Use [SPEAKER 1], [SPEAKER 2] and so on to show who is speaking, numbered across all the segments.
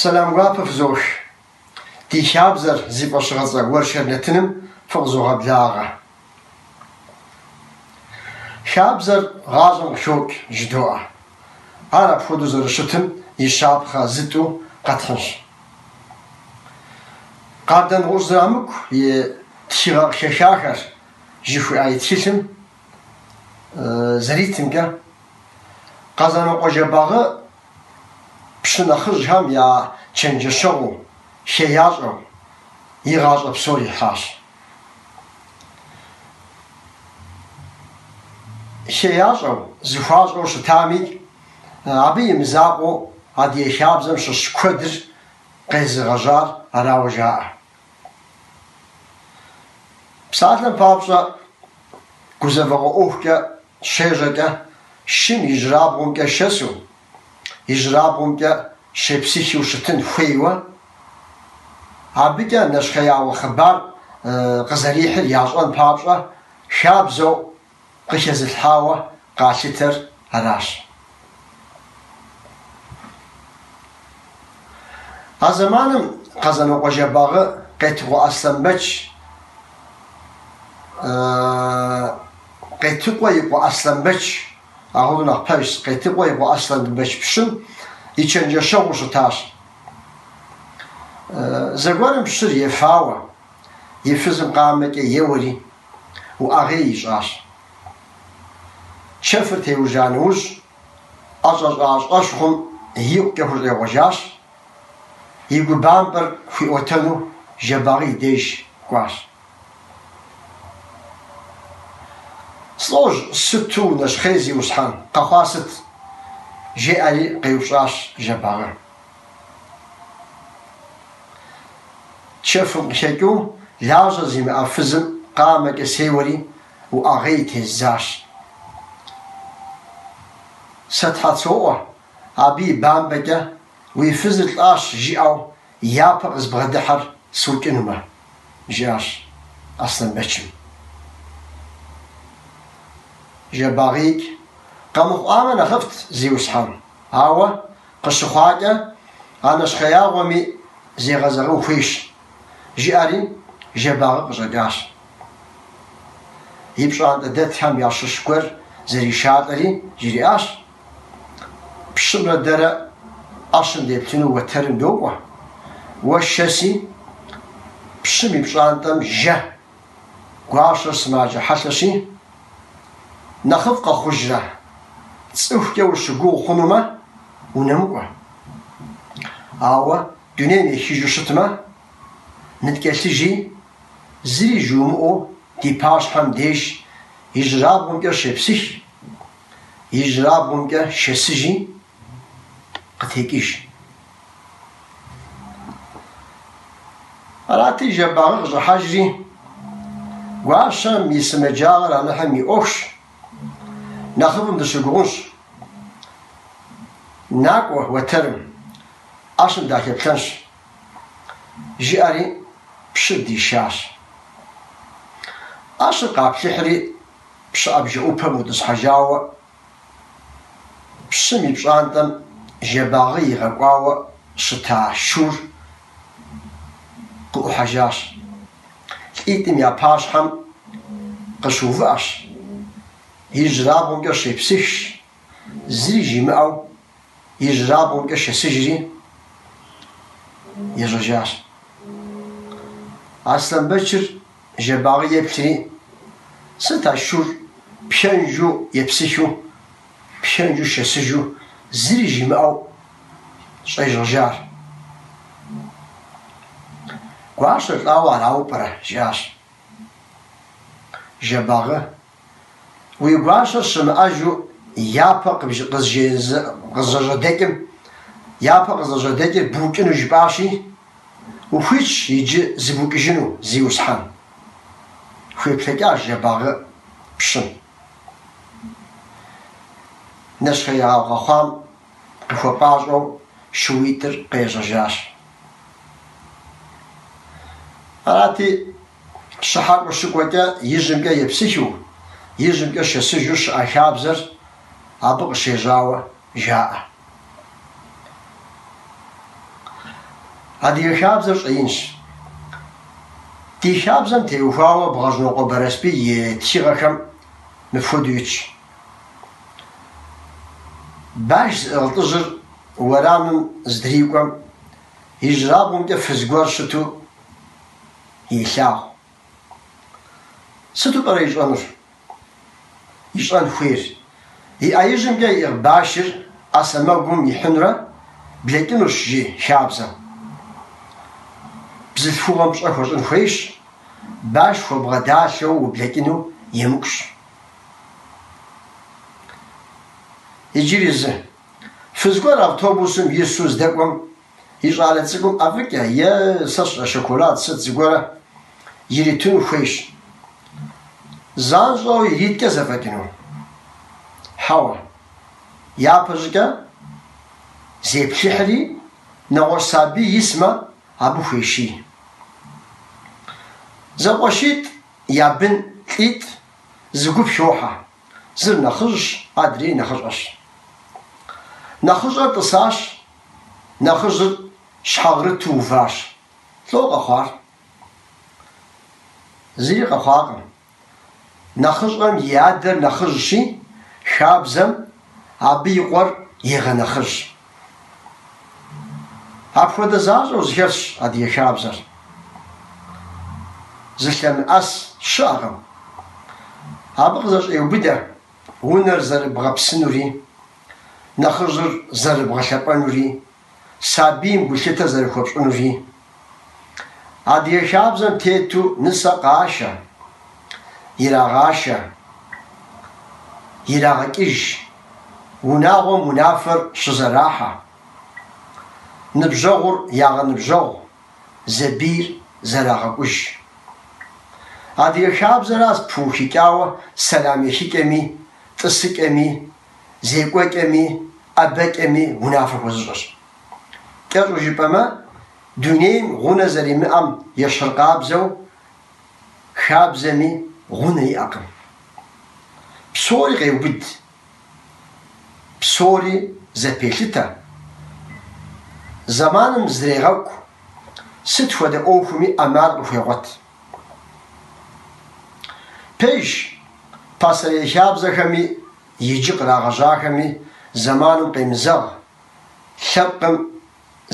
[SPEAKER 1] Сэлам гуапэ фызош. Ди хабзэр, зи фӏэщыгъэцӏэ уэршэр нэтыным фыкъызогъэблагъэ. Хабзэр гъащӏэм къыхокӏ, жыдоӏэ. Ар апхуэдэу зэрыщытым и щапхъэ зытӏу къэтхьынщ. Къардэнгъущӏ Зырамыку и тхыгъэ къыхэхахэр жыхуиӏа и тхылъым зэритымкӏэ, Къэзанокъуэ Жэбагъы пщы нэхъыжьхэм я чэнджэщэгъуу, хеящӏэу, и гъащӏэ псор ихьащ. хеящӏэу, зыхуащӏэу щытамикӏ, абы и мызакъуэу Адыгэ хабзэм щыщ куэдыр къезыгъэжьар арауэ жаӏэ. Псалъэм папщӏэ, гузэвэгъуэ ӏуэхукӏэ Щежьэкӏэ, шым ижьырабгъумкӏэ шэсу, ижьырабгъумкӏэ щепсыхыу щытын хуейуэ, абыкӏэ нэщхъеягъуэ хъыбар къызэрихьыр ящӏэн папщӏэ, хабзэу къыхэзылъхьауэ къалъытэр аращ. А зэманым Къэзанокъуэ Жэбагъы Къетыкъуэ Аслъэнбэч Къетыкъуэ и къуэ Аслъэнбэч, агъыну нэхъ пэжщ, Къетыкъуэ и къуэ Аслъэнбэч пщым и чэнджэщэгъуу щытащ. Зэгуэрым пщыр ефауэ, и фызым къамэкӏэ еуэри, уӏэгъей ищӏащ. Чэфыр теужьа нэужь, ӏэщӏэщӏа щӏэщхъум икъукӏэ хущӏегъуэжащ, и гу бампӏэр хуиӏуэтэну Жэбагъы и деж кӏуащ. Слӏожь сыту унэщхъей, зиусхьэн, къэхъуа сыт? жеӏэри къеупщӏащ Жэбагъы. Чэфым къыхэкӏыу, лажьэ зимыӏэ фызым къамэкӏэ сеуэри, Уӏэгъей тездзащ. Сэ тхьэ соӏуэ, абы и бампӏэкӏэ уи фызыр лӏащ жиӏэу япэ къызбгъэдыхьэр сукӏынумэ, жиӏащ Аслъэнбэчым. Жэбагъиикӏ къэмыхъуамэ нэхъыфӏт зиусхьэн, ауэ къыщыхъуакӏэ а нэщхъеягъуэми зегъэзэгъын хуейщ, жиӏэри Жэбагъы къыщӏэкӏащ. и пщӏантӏэ дэтхэм ящыщ гуэр зришалӏэри, жриӏащ, Пщымрэ дэрэ ӏэщым деплъыну уэтэрым докӏуэ, уэ шэси пщым и пщӏантӏэм жэ, гуащэр сымаджэ хьэлъэщи, нэхъыфӏ къэхъужрэ, цӏыхукӏэ ущыгугъ хъунумэ, унэмыкӏуэ. Ауэ дунейм ехыжу щытмэ, ныткӏэлъыжи, Зыри жумыӏэу ди пащхьэм деж ижьырабгъумкӏэ щепсых, ижьырабгъумкӏэ шэсыжи, къытекӏыж. Арати, Жэбагъы къыщӏыхьэжри, гуащэм и сымаджагъэр Алыхьым и ӏуэхущ, нэхъыфӏым дыщыгугъынщ, накӏуэ уэтэрым, ӏэщым дахэплъэнщ. Жиӏэри, пщыр дишащ. ӏэщыр къаплъыхьри, пщыӏэбжэ ӏупэм ӏутӏысхьэжауэ, пщым и пщӏантӏэм Жэбагъы игъэкӏуауэ щыта шур къыӏухьэжащ. Лӏитӏым я пащхьэм къыщыувыӏэщ, ижьырабгъумкӏэ щепсыхщ, зыри жимыӏэу ижьырабгъумкӏэ шэсыжри, ежьэжащ. Аслъэнбэчыр Жэбагъы еплъри, сыт а шур пхэнжу епсыхыу, пхэнжу шэсыжу зыри жимыӏэу щӏежьэжар? Гуащэр лӏауэ арауэ пӏэрэ? жиӏащ. Жэбагъы Уи гуащэр щымыӏэжу япэ къызыжьэдэкӏым, япэ къызыжьэдэкӏыр букӏыну жыпӏащи, ухуитщ иджы зыбукӏыжыну, Зиусхьэн. Хуеплъэкӏащ Жэбагъы пщым. Нэщхъеягъуэ къэхъуам Къыхуэпӏащӏэу шууитӏыр къежьэжащ. Арати, щхьэкӏуэ щыкӏуэкӏэ ижьымкӏэ епсыхыу, ижьымкӏэ шэсыжу щыӏэ хабзэр абы къыщежьауэ жаӏэ. Адыгэ хабзэр щӏэинщ. Ди хабзэм теухуауэ Бгъэжьнокъуэ Бэрэсбий и тхыгъэхэм мыпхуэдэу итщ. Баш зыӏыгъ лӏыжьыр уэрамым здрикӏуэм, ижьрабгъумкӏэ фыз гуэр щыту илъагъу. Сыту пӏэрэ ищӏэнур? Ищӏэн хуейр. И ӏэижьымкӏэ иӏыгъ башыр ӏэ сэмэгум ихьынурэ блэкӏынущ, жи хабзэм. Бзылъхугъэм пщӏэ хуэщӏын хуейщ, баш хуэбгъэдалъэу ублэкӏыну емыкӏущ. Иджыри зы. Фыз гуэр автобусым ису здэкӏуэм и щӏалэ цӏыкӏум ӏэфӏыкӏэ е сэ сщӏэ шоколад сыт зыгуэр иритыну хуейщ. Занщӏэу ириткӏэ зэфӏэкӏыну? Хьэуэ. Япэ щӏыкӏэ зеплъыхьри, нэгъуэщӏ сабий исмэ, абы хуещий. Зэкъуэшитӏ я бын лӏитӏ Зы гуп щохьэ. Зыр нэхъыжьщ, адрейр нэхъыщӏэщ. Нэхъыщӏэр тӏысащ, нэхъыжьыр щхьэгърыту уващ. Лӏо къэхъуар? Зыри къэхъуакъым. Нэхъыщӏэм и адэр нэхъыжьщи, хабзэм абы и къуэр егъэнэхъыжь. Апхуэдэ защӏэу зэхэлъщ адыгэ хабзэр. Зылъэмыӏэс щыӏэкъым. Абы къызэщӏеубыдэ унэр зэрыбгъэпсынури, нэхъыжьыр зэрыбгъэлъэпӏэнури, сабийм гулъытэ зэрыхуэпщӏынури. Адыгэ хабзэм тету нысэ къашэ, ирагъашэ, ирагъэкӏыж, унагъуэм унафэр щызэрахьэ, ныбжьэгъур ягъэныбжьэгъу, зэбийр зэрагъэкӏуж. Адыгэ хабзэращ пыухыкӏауэ сэлам ехыкӏэми, тӏысыкӏэми, зекӏуэкӏэми, ӏэбэкӏэми унафэ хуэзыщӏыр. Кӏэщӏу жыпӏэмэ, дунейм гъунэ зэримыӏэм ещыркъабзэу хабзэми гъунэ иӏэкъым. Псори къеубыд, псори зэпелъытэ, зэманым зрегъэкӏу, сыт хуэдэ ӏуэхуми ӏэмал къыхуегъуэт. Пэжщ, пасэрей хабзэхэми иджы кърагъэжьахэми зэманым къемызэгъ, Лъэпкъым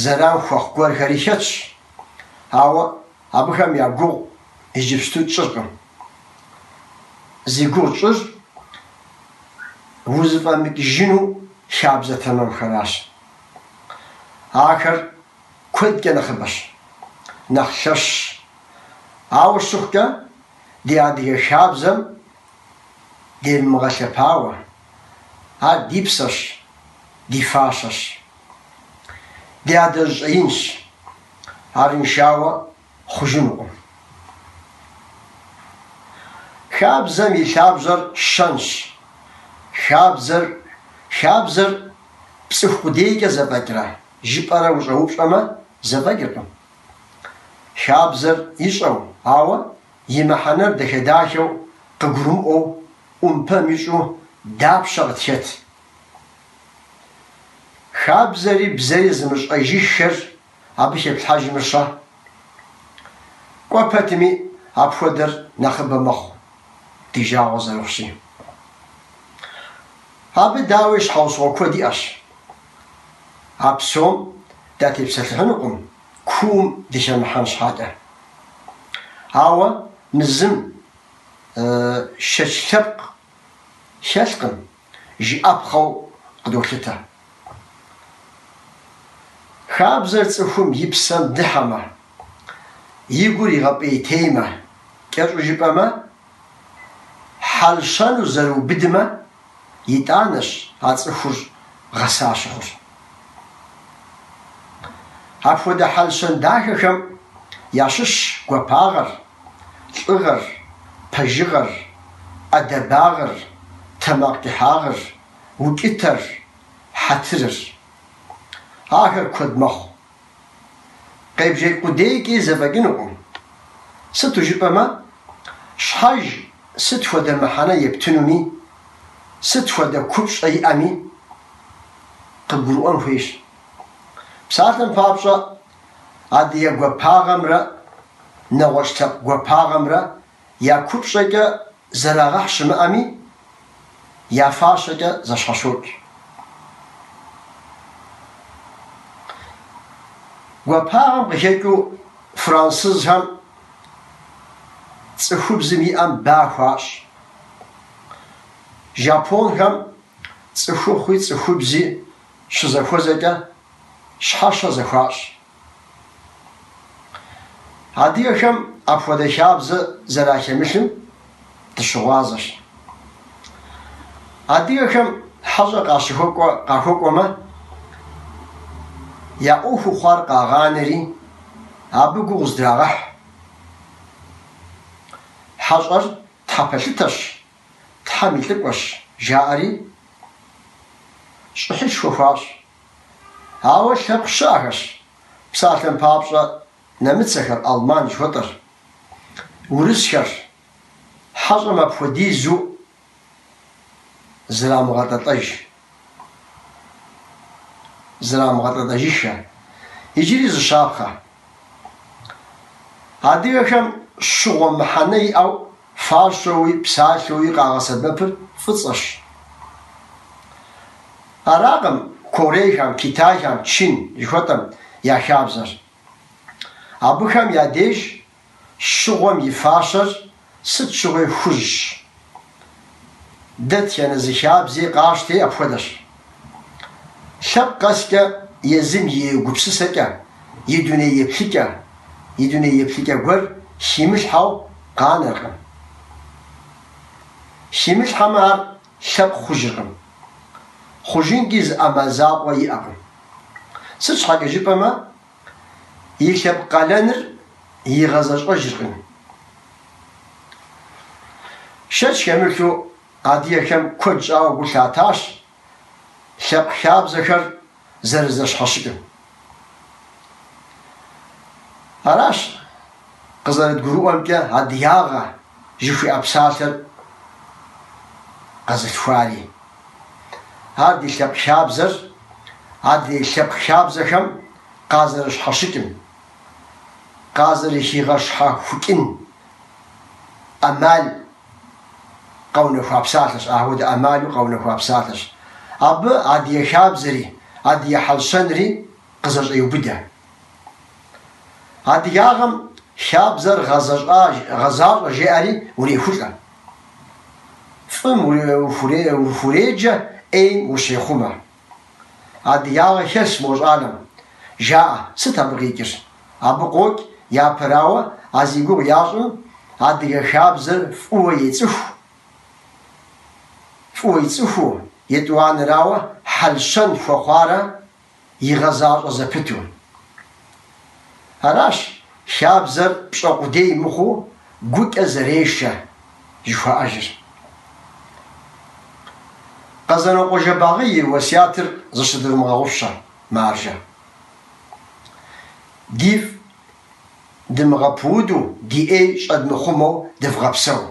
[SPEAKER 1] зэран хуэхъу гуэрхэри хэтщ, ауэ абыхэм я гугъу иджыпсту тщӏыркъым. Зи гугъу тщӏыр узыфӏэмыкӏыжыну хабзэ тэмэмхэращ. Ахэр куэдкӏэ нэхъыбэщ, нэхъ лъэщщ. Ауэ щыхъукӏэ, ди адыгэ хабзэм девмыгъэлъэпауэ. Ар ди псэщ, ди фащэщ. Ди адэжь щӏэинщ. Арыншауэ хъужынукъым. Хабзэм и лъабжьэр щэнщ. Хабзэр, хабзэр пцӏыху къудейкӏэ зэфӏэкӏра жыпӏэрэ ущӏэупщӏэмэ, зэфӏэкӏыркъым. Хабзэр ищӏэу, ауэ и мыхьэнэр дахэ-дахэу къыгурымыӏуэу ӏумпэм ищӏу дапщэ къытхэт? Хабзэри бзэри зымыщӏэжыххэр абы хэплъхьэжмэ щэ? Кӏуэ пэтми, апхуэдэр нэхъыбэ мэхъу, ди жагъуэ зэрыхъущи. Абы, дауи, щхьэусыгъуэ куэд иӏэщ. А псом датепсэлъыхьынукъым. куум дыхэмыхьэн щхьэкӏэ. Ауэ мы зым шэч лъэпкъ хэлъкъым, жыӏэпхъэу къыдолъытэ. Хабзэр цӏыхум и псэм дыхьэмэ, и гур игъэпӏейтеймэ, кӏэщӏу жыпӏэмэ, Хьэл-щэну зэрыубыдмэ, итӏанэщ а цӏыхур гъэса щыхъур. Апхуэдэ хьэл-щэн дахэхэм ящыщщ гуапагъэр, лӏыгъэр, пэжыгъэр, ӏэдэбагъыр, тэмакъ кӏыхьагъыр, укӏытэр, хьэтырыр. Ахэр куэд мэхъу. Къебжэкӏ къудейкӏи зэфӏэкӏынукъым. Сыту жыпӏэмэ, щхьэж сыт хуэдэ мыхьэнэ ептынуми, сыт хуэдэ купщӏэ иӏэми къыгурыӏуэн хуейщ. Псалъэм папщӏэ, адыгэ гуапагъэмрэ нэгъуэщӏ лъэпкъ гуапагъэмрэ Я купщӏэкӏэ зэрагъэхь щымыӏэми, я фащэкӏэ зэщхьэщокӏ. Гуапагъэм къыхэкӏыу францызхэм цӏыхубзым и ӏэм ба хуащӏ. Жапонхэм цӏыхухъуи цӏыхубзи щызэхуэзэкӏэ щхьэщэ зэхуащӏ. Адыгэхэм апхуэдэ хабзэ зэрахемылъым дыщыгъуазэщ. Адыгэхэм хьэщӏэ къащыхуэ къахуэкӏуэмэ, я ӏуэху хъуар къагъанэри, абы гугъу здрагъэхь. Хьэщӏэр тхьэпэлъытэщ, Тхьэм и лӏыкӏуэщ, жаӏэри щӏыхьышхуэ хуащӏ. Ауэ лъэпкъ щыӏэхэщ. Псалъэм папщӏэ, нэмыцэхэр, алман жыхуэтӏэхэр, урысхэр хьэщӏэм апхуэдизу зрамыгъэтӏэтӏэж, зрамыгъэтӏэтӏэжыххэ, иджыри зыщапхъэ. Адыгэхэм щыгъуэ мыхьэнэ иӏэу, фащэуи, псалъэуи къагъэсэбэпыр фӏыцӏэщ. Аракъым Корейхэм, Китайхэм, Чин жыхуэтӏэм я хабзэр. Абыхэм я деж щыгъуэм и фащэр Сыт щыгъуи хужьщ. Дэтхэнэ зы хабзи къащти апхуэдэщ. Лъэпкъ къэскӏэ езым и гупсысэкӏэ, и дуней еплъыкӏэ, и дуней еплъыкӏэ гуэр химылъхьэу къанэркъым. Химылъхьэмэ ар лъэпкъ хъужыркъым. Хъужынкӏи зы ӏэмал закъуэ иӏэкъым. Сыт щхьэкӏэ жыпӏэмэ и лъэпкъ къалэныр игъэзэщӏэжыркъым. Шэч хэмылъу адыгэхэм куэд щӏауэ гу лъатащ лъэпкъ хабзэхэр зэрызэщхьэщыкӏым. Аращ къызэрыдгурыӏуэмкӏэ адыгагъэ жыхуиӏэ псалъэр къэзылъхуари. Ар ди лъэпкъ хабзэр, адрей лъэпкъ хабзэхэм къазэрыщхьэщыкӏым, къазэрыхигъэщхьэхукӏын ӏэмал къэунэхуа псалъэщ, апхуэдэ ӏэмалу къэунэхуа псалъэщ. Абы адыгэ хабзэри, адыгэ хьэл-щэнри къызэщӏеубыдэ. Адыгагъэм хабзэр гъэзащӏэ жеӏэри урехулӏэ. Фӏым ухуреджэ, ӏейм ущехъумэ. Адыгагъэ хэлъщ мо щӏалэм, жаӏэ, сыт абы къикӏыр? Абы къокӏ, япэрауэ, а зи гугъу ящӏым адыгэ хабзэр фӏыуэ ецӏыху, фӏыуэ ицӏыхуу, етӏуанэрауэ хьэл-щэн хуэхъуарэ игъэзащӏэ зэпыту. Аращ хабзэр пщӏэ къудей мыхъуу гукӏэ зэрешэ жыхуаӏэжыр. Къэзанокъуэ Жэбагъы и уэсятыр зыщыдывмыгъэгъупщэ маржэ. Дифӏ дымыгъэпуду, ди ӏей щӏэдмыхъумэу дывгъэпсэу.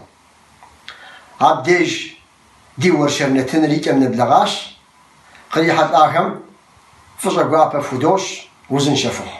[SPEAKER 1] Абдеж Ди уэршэр нэтыныр и кӏэм нэблэгъащ, кърихьэлӏахэм фӏыщӏэ гуапэ фудощӏ, узыншэ фыхъу.